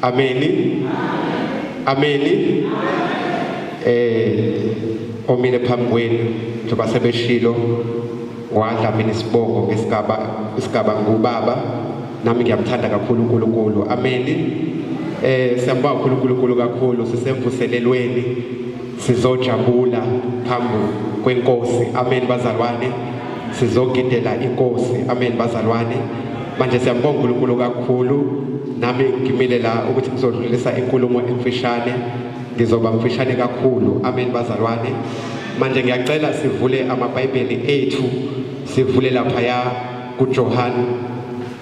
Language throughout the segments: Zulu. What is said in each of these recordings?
Ameni. Ameni. Eh omile phambi kwenu njengoba sebeshilo wadla mina isibongo ngesigaba isigaba ngubaba nami ngiyamthanda kakhulu uNkulunkulu. Ameni. Eh siyambonga uNkulunkulu kakhulu sisemvuselelweni sizojabula phambi kwenkosi amen bazalwane sizogidela inkosi amen bazalwane manje siyambonga uNkulunkulu kakhulu nami ngimile la ukuthi ngizodlulisa inkulumo emfishane ngizoba mfishane kakhulu amen bazalwane manje ngiyacela sivule amabhayibheli ethu sivule laphaya kuJohane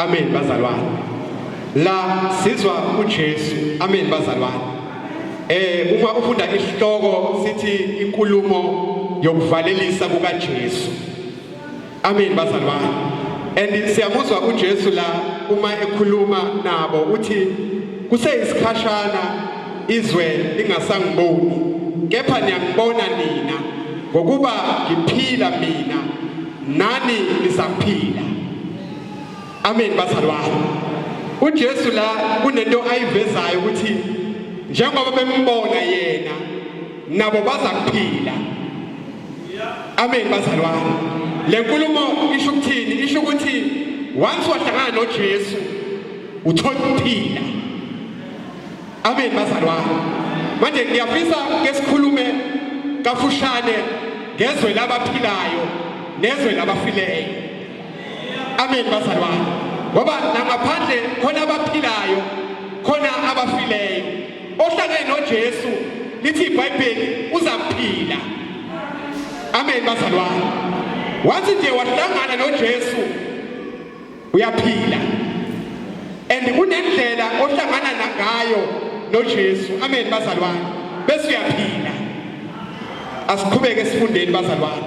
Amen bazalwane. La sizwa uJesu. Amen bazalwane. Eh uma ufunda isihloko sithi inkulumo yokuvalelisa kukaJesu. Amen bazali bami. And siyamuzwa uJesu la uma ekhuluma nabo uthi kuseyisikhashana izwe lingasangiboni kepha niyangibona nina ngokuba ngiphila mina nani nisaphila Amen bazalwane. UJesu la kunento ayivezayo ukuthi njengoba bembona yena nabo baza kuphila. Amen bazalwane. Le nkulumo isho ukuthini? Isho ukuthi once wahlangana noJesu uthola ukuphila. Amen bazalwane. Manje ngiyafisa ke sikhulume kafushane ngezwe labaphilayo nezwe labafileyo. Amen bazalwane. Ngoba nangaphandle khona abaphilayo, khona abafileyo. Ohlangene noJesu lithi iBhayibheli uzaphila. Amen bazalwane. Wathi nje wahlangana noJesu uyaphila. And kunendlela ohlangana nangayo noJesu. Amen bazalwane. Bese uyaphila. Asiqhubeke sifundeni bazalwane.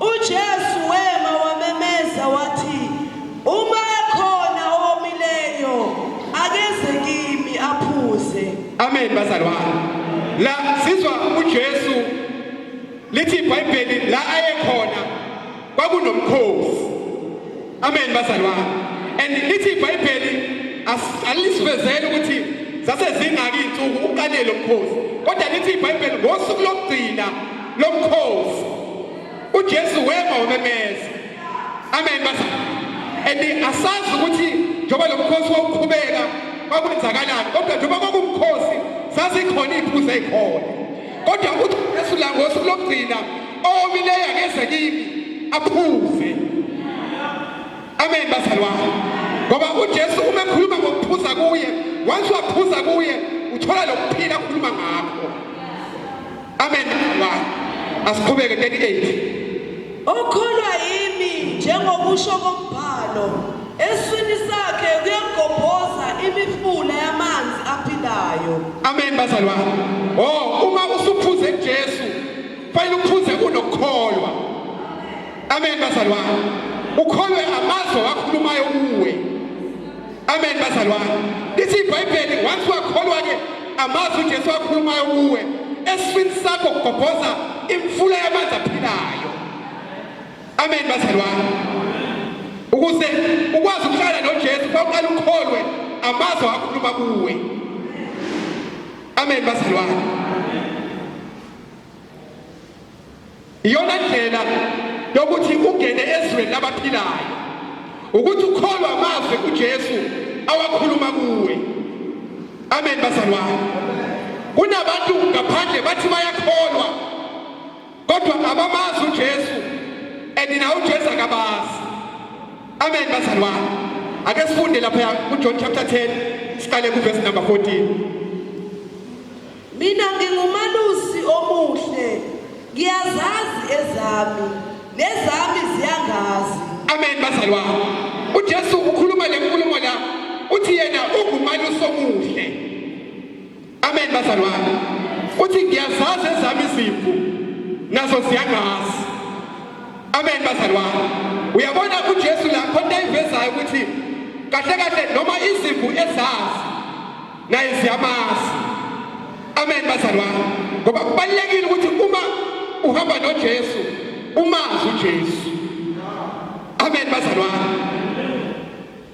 UJesu wema wamemeza wathi, Uma ekhona owomileyo, akeze kimi aphuze. Amen bazalwane. La sizwa uJesu lithi iBhayibheli la ayekhona kwakunomkhosi. Amen bazalwane. And lithi iBhayibheli alisivezele ukuthi zase zingaki insuku uqale lo mkhosi. Kodwa lithi iBhayibheli ngosuku lokugcina lomkhosi uJesu wema wamemeza amen basa and asazi ukuthi njengoba lomkhosi wawuqhubeka kwakwenzakalani kodwa njengoba kwakumkhosi zazikhona iy'phuza ey'khona kodwa uJesu la ngosuku lokugcina owomileyo akeze kimi aphuze amen bazali wami ngoba uJesu uma ekhuluma ngokuphuza kuye once waphuza kuye uthola lokuphila akhuluma ngakho Amen. Wow. Asiqhubeke 38. Okholwa yimi njengokusho kombhalo eswini sakhe kuyagobhoza imifula yamanzi aphilayo. Amen bazalwane. Oh uma usuphuze Jesu fanele uphuze unokukholwa. Amen bazalwane. Ukholwe amazwi akhulumayo kuwe. Amen bazalwane. Lithi iBhayibheli once wakholwa ke amazwi uJesu akhulumayo kuwe esifini sakho kugobhoza imfula yamanzi aphilayo. Amen bazalwane. Ukuze ukwazi ukuhlala noJesu kwaqala ukholwe amazwi akhuluma kuwe. Amen bazalwane. Iyona ndlela yokuthi ungene ezweni labaphilayo ukuthi ukholwa amazwi uJesu awakhuluma kuwe. Amen bazalwane. Kunabantu ngaphandle bathi bayakholwa kodwa abamazi uJesu and na uJesu akabazi. Amen bazalwane. Ake sifunde lapha kuJohn chapter 10 siqale kuverse number 14. Mina ngingumalusi omuhle, ngiyazazi ezami, nezami ziyangazi. Amen bazalwane. UJesu ukhuluma le nkulumo la uthi yena ungumalusi omuhle. Amen bazalwane. Uthi ngiyazazi ezami izimvu nazo ziyangazi. Amen bazalwane. Uyabona uJesu la khona ivezayo ukuthi kahle kahle noma izimvu ezazi Naye siyamazi. Amen bazalwane. Ngoba kubalekile ukuthi uma uhamba noJesu umazi uJesu. Amen bazalwane.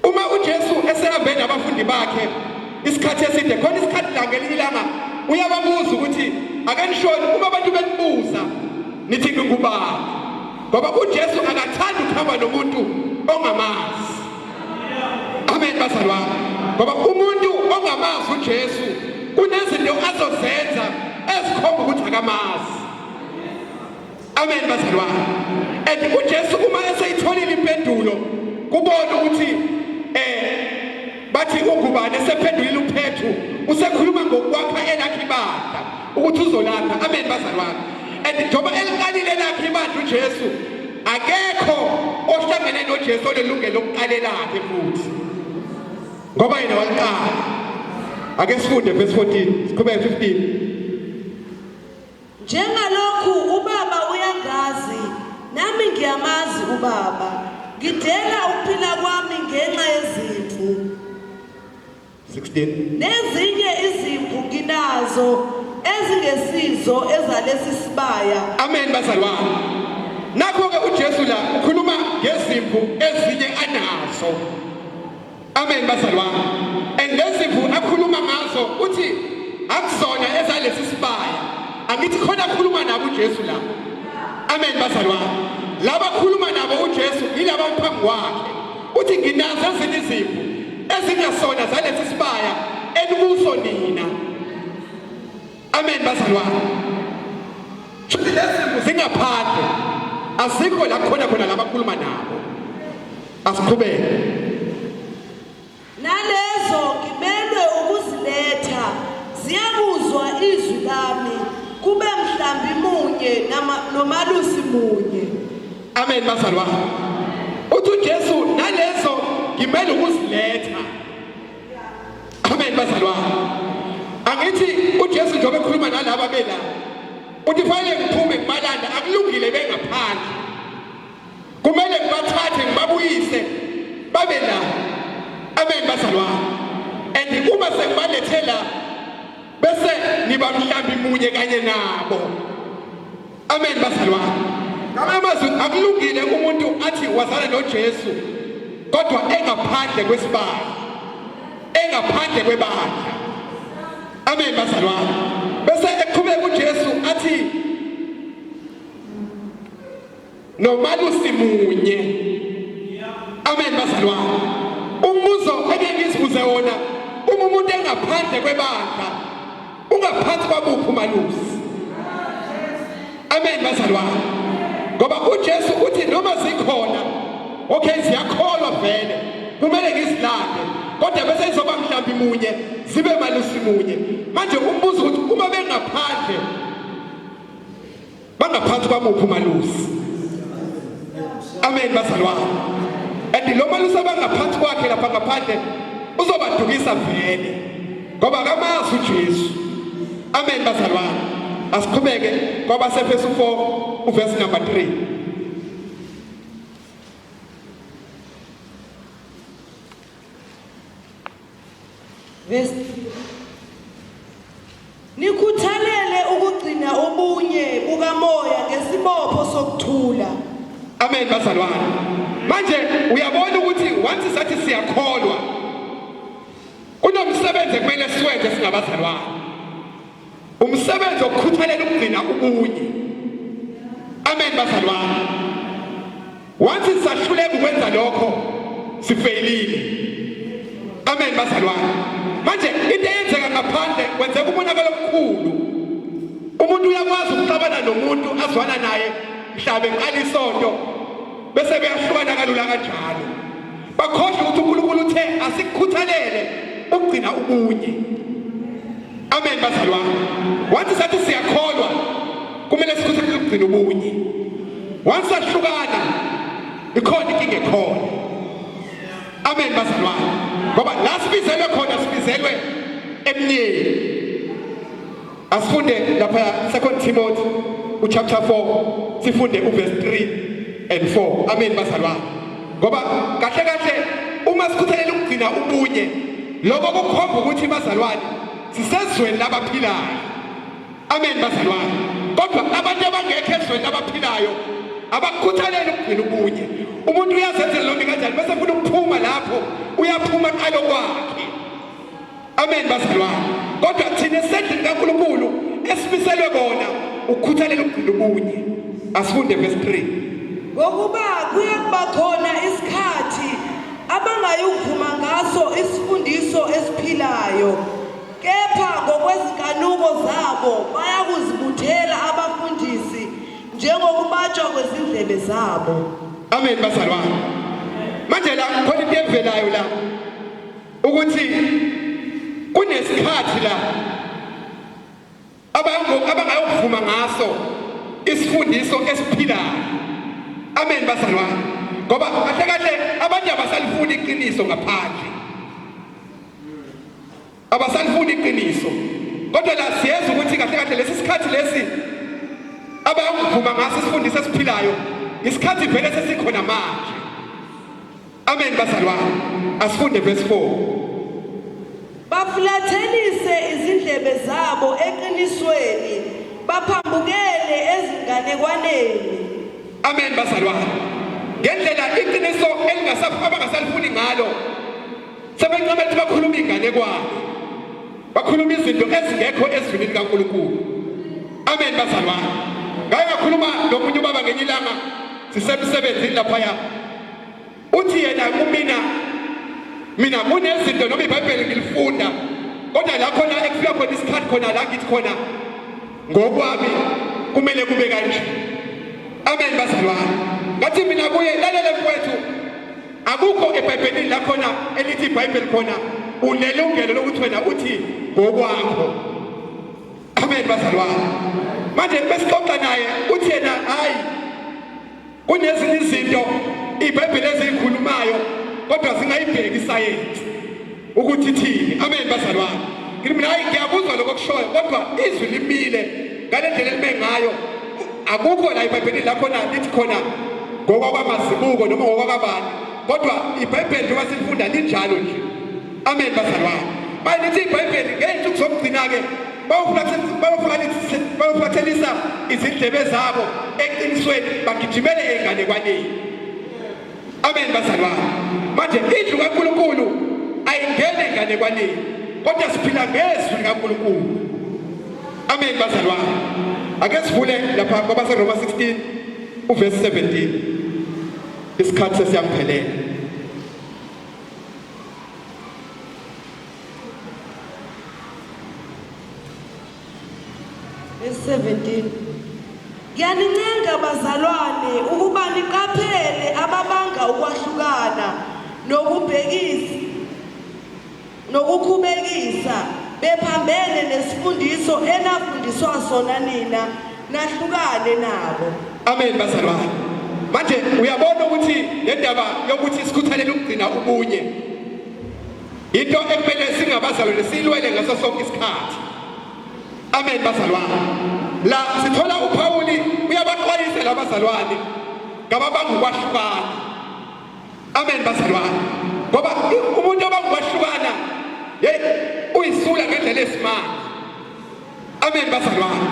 Uma uJesu esehambe nabafundi bakhe isikhathi eside khona isikhathi la ngelinye ilanga uyababuza ukuthi ake nishoni uma abantu benibuza nithi ngingubani ngoba uJesu akathandi ukuhamba nomuntu ongamazi Amen bazalwane. Ngoba umuntu ongamazi uJesu kunezinto azozenza ezikhomba ukuthi akamazi. Amen bazalwane. And uJesu uma eseyitholile impendulo kubona ukuthi eh bathi ungubani esephendulile uphethu usekhuluma ngokwakha elakhe ibandla ukuthi uzolapha amen bazalwane and njengoba eliqalile lakhe ibandla uJesu akekho ohlangene noJesu olelungelo lokuqalela lakhe futhi ngoba yena waliqala ake sifunde verse 14 siqhubeke 15 njengalokhu ubaba uyangazi nami ngiyamazi ubaba ngidela ukuphila kwami ngenxa yezimvu 16 nezinye izimvu nginazo ezingesizo ezalesi sibaya amen bazalwane nakho-ke ujesu la ukhuluma ngezimvu ezinye anazo amen bazalwane and lezimvu akhuluma ngazo uthi akuzona ezalesi sibaya angithi khona akhuluma nabo ujesu la amen bazalwane laba khuluma nabo ujesu yilaba phambi kwakhe Uthi nginazo ezinye izipho ezingasona zalesi sibaya enikuso nina. Amen bazalwane. Shuthi lezimo zingaphandle asikho la khona khona labakhuluma nabo. Asiqhubeke. Nalezo ngimelwe ukuziletha ziyakuzwa izwi lami kube mhlambi munye nomalusi munye Amen bazalwa. Uthi uJesu nalezo ngimele ukuziletha. Amen bazalwa. Angithi uJesu njengoba ekhuluma nalaba bela uthi fanele ngiphume kubalanda akulungile bengaphandle. Kumele ngibathathe ngibabuyise babe la. Amen bazalwa. And uma sengibalethela bese niba mhlambi munye kanye nabo. Amen bazalwa. Ngamanye amazwi akulungile umuntu athi wazana noJesu kodwa engaphandle kwesibaya. Engaphandle kwebandla. Amen bazalwa. Bese eqhubeka uJesu athi nomalusi munye. Amen bazalwa. Umbuzo engeke ngizibuze wona uma umuntu engaphandle kwebandla Ungaphansi kwakuphi umalusi? Amen bazalwane. Ngoba uJesu uthi noma zikhona okay ziyakholwa vele kumele ngizilande kodwa bese izoba mhlambi munye zibe malusi munye manje umbuzo ukuthi uma bengaphandle Bangaphansi kwamuphi umalusi? Amen bazalwane. And lo malusi abangaphansi kwakhe lapha ngaphandle uzobadukisa vele. Ngoba kamazi uJesu. Amen bazalwane. Asiqhubeke kwabaseFesu 4 uverse number 3. Verse 3. Nikhuthalele ukugcina ubunye bukamoya ngesibopho sokuthula. Amen bazalwane. Manje uyabona ukuthi once sathi siyakholwa kunomsebenzi kumele siwenze singabazalwane. Umsebenzi wokukhuthalela ukugcina ubunye. Amen bazalwane. Wathi sisahluleka ukwenza lokho sifeyilile. Amen bazalwane. Manje into eyenzeka ngaphandle kwenzeka umonakalo omkhulu. Umuntu uyakwazi ukuxabana nomuntu azwana naye mhlawumbe eqala isonto bese beyahlukana kalula kanjalo. bakhohlwe ukuthi uNkulunkulu uthe asikhuthalele ukugcina ubunye amen bazalwa wathi sathi siyakholwa kumele sikhuthalele ukugcina ubunye wathi sahlukana ikhona inkinga ekhona amen bazalwa ngoba la sibizelwe khona sibizelwe emnyeni Asifunde lapha 2 Timothy uchapter 4 sifunde uverse 3 and 4. Amen bazalwane. Ngoba kahle kahle uma sikhuthalela ukugcina ubunye lokho kukhomba ukuthi bazalwane sisezweni labaphilayo. Amen bazalwane. Kodwa abantu abangekho ezweni labaphilayo abakukhuthalele ukugcina ubunye. Umuntu uyazenzela lombi kanjani bese funa ukuphuma lapho uyaphuma qalo kwakhe. Amen bazalwane. Kodwa thina sendlini kaNkulunkulu esibiselwe kona ukukhuthalela ukugcina ubunye. Asifunde verse 3. Ngokuba kuye kuba khona isikhathi abangayivuma ngaso isifundiso esiphilayo kepha ngokwezinkanuko zabo bayakuzibuthela abafundisi njengokubatshwa kwezindlebe zabo. Amen bazalwane. Manje la khona into evelayo la. ukuthi kunesikhathi la abangayokuvuma ngaso isifundiso esiphilayo amen bazalwane ngoba kahle kahle abantu abasalifuni iqiniso ngaphandle abasalifuni iqiniso kodwa la siyenza ukuthi kahle kahle lesi sikhathi lesi abayokuvuma ngaso isifundiso esiphilayo isikhathi vele sesikhona manje Amen bazalwane. Asifunde verse 4. bafulathelise izindlebe zabo eqinisweni baphambukele ezinganekwaneni Amen bazalwane. Ngendlela iqiniso elingasaphu abangasalifuni ngalo. Sebencoma ukuthi bakhuluma inganekwane. Bakhuluma izinto ezingekho ezwini likaNkulunkulu. Amen bazalwane. Ngake ngakhuluma nomunye ubaba ngenye ilanga sisemsebenzini lapha ya. uthi yena kumina mina kunezinto noma ibhayibheli ngilifunda kodwa la khona ekufika khona isikhathi khona la ngithi khona ngokwami kumele kube kanje amen bazalwane ngathi mina kuye lalele mfowethu akukho ebhayibhelini la khona elithi ibhayibheli khona unelungelo lokuthi wena uthi ngokwakho amen bazalwane manje besixoxa naye uthi yena hayi Kunezinye izinto iBhayibheli eziyikhulumayo kodwa zingayibheki isayensi ukuthi thini. Amen bazalwane. Ngithi mina hayi ngiyakuzwa lokho kushoyo kodwa izwi limile ngale ndlela elime ngayo akukho la iBhayibheli lapho na lithi khona ngokwabamazibuko noma ngokwababani kodwa iBhayibheli njengoba silifunda linjalo nje. Amen bazalwane. Bayithi iBhayibheli ngey'nsuku zokugcina-ke bayofulathelisa izindlebe zabo eqinisweni bagijimele ey'nganekwaneni. Amen bazalwane. Manje indlu kaNkulunkulu ayingene enganekwaneni kodwa siphila ngezwi likaNkulunkulu. Amen bazalwane. Ake sivule lapha kwabaseRoma 16 uverse 17. Isikhathi sesiyaphelela. 17 Ngiyanincenga bazalwane ukuba niqaphele ababanga ukwahlukana nokubhekisa nokukhubekisa bephambene nesifundiso enafundiswa sona nina nahlukane nabo amen bazalwane manje uyabona ukuthi le ndaba yokuthi sikhuthalele ukugcina ubunye into ekumele singabazalwane siyilwele ngaso sonke isikhathi amen bazalwane la sithola uphawuli uyabaxwayisa labazalwane ngababanga ukwahlukana amen bazalwane ngoba umuntu obanga ukwahlukana yeyi uyisula ngendlela esimanga Amen bazalwane.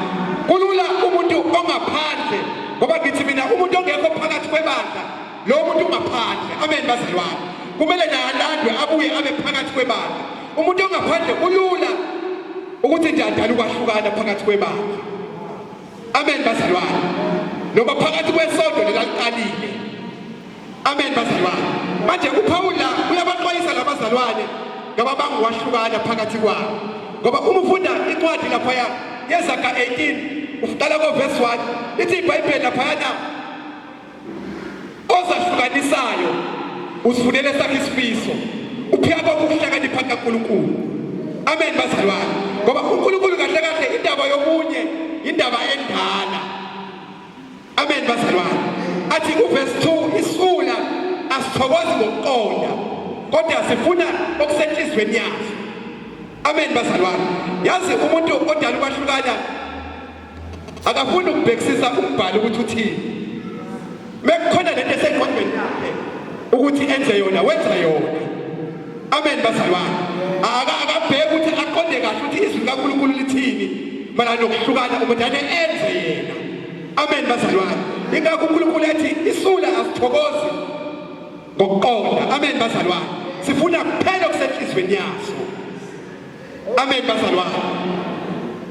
Kulula umuntu ongaphandle ngoba ngithi mina umuntu ongekho phakathi kwebandla lo muntu ungaphandle. Amen bazalwane. Kumele nalandwe abuye abe phakathi kwebandla. Umuntu ongaphandle kulula ukuthi nje adala ukwahlukana phakathi kwebandla. Amen bazalwane. Noma phakathi kwesonto lelaliqalile Amen bazalwane. Manje uPawula uyabaxwayisa labazalwane ngababanga ukwahlukana phakathi kwabo. Ngoba uma ufunda incwadi lapha ya yezaga 18 uqala ko verse 1 lithi iBhayibheli lapha yana ozahlukanisayo usifunele sakhe isifiso. Uphika kokuhlakanipha kaNkulunkulu. Amen bazalwane. Ngoba uNkulunkulu kahle kahle indaba yomunye indaba endala. Amen bazalwane. Athi kuverse 2 isula asithokozi ngokuqonda kodwa sifuna okusenhlizweni yaso. Amen bazalwane. Yazi umuntu odala ukwahlukana akafuni ukubhekisisa umbhalo ukuthi uthini. Mekukhona lento esengqondweni yakhe ukuthi enze yona wenza yona. Amen bazalwane. Akabheki ukuthi aqonde kahle ukuthi izwi likaNkulunkulu lithini. Mana nokuhlukana umuntu ane enze yena. Amen bazalwane. Ingakho uNkulunkulu ethi isula asithokozi ngokuqonda. Amen bazalwane. Sifuna kuphela okusenhlizweni yaso. Amen bazalwane.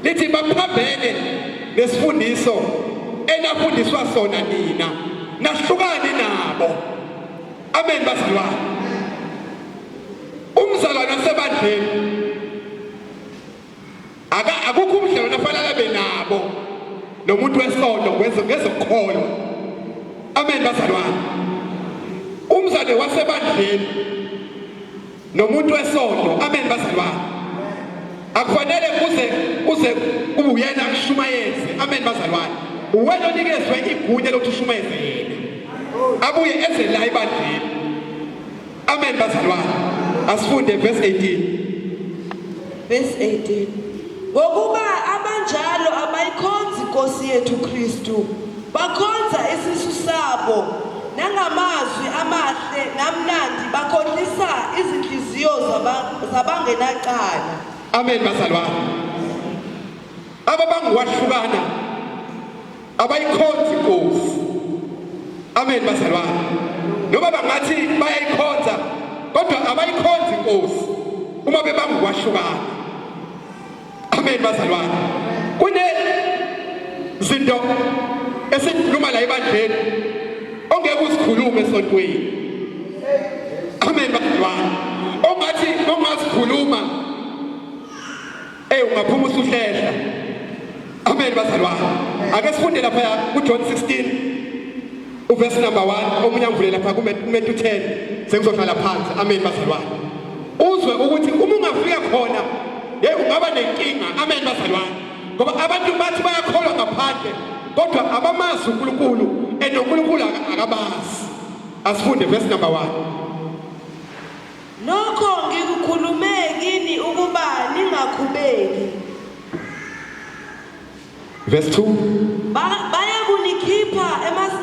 Lithi baphambene nesifundiso enafundiswa sona nina. Nahlukane nabo. Amen bazalwane. Umzalwane wasebandleni Aka akukho ubudlelwano afanele abe nabo nomuntu wesonto ngezokholwa. Amen bazalwane. Umzane wasebandleni nomuntu wesonto. Amen bazalwane. Akufanele kuze kuze kube uyena kushumayeze. Amen bazalwane. Uwena onikezwe igunya lokuthi ushumayeze yena. Abuye eze la ebandleni. Amen bazalwane. Asifunde verse 18. Verse 18. Ngokuba abanjalo abayikhonzi Nkosi yethu Kristu, bakhonza isisu sabo nangamazwi amahle namnandi bakhohlisa izinhliziyo zabangenacala. Amen bazalwane. Aba bangiwahlukana abayikhonzi inkosi amen bazalwane noma bangathi bayayikhonza kodwa abayikhonzi inkosi uma bebanga ukwahlukana amen bazalwane kune zinto esikhuluma la ebandleni ongeke uzikhulume esontweni amen bazalwane ongathi ongazikhuluma Ey ungaphuma usuhlehla. Amen bazalwane. Ake sifunde lapha kuJohn 16 uverse number 1 omunye angivule lapha kuMetu 10 sengizohlala phansi. Amen bazalwane. Uzwe ukuthi uma ungafika khona hey ungaba nenkinga. Amen bazalwane. Ngoba abantu bathi bayakholwa ngaphandle kodwa abamazi uNkulunkulu and uNkulunkulu akabazi. Asifunde verse number 1. Nokho ngikukhulume kini ukuba ningakhubeki. Verse 2. Ba- bayakunikhipha emas-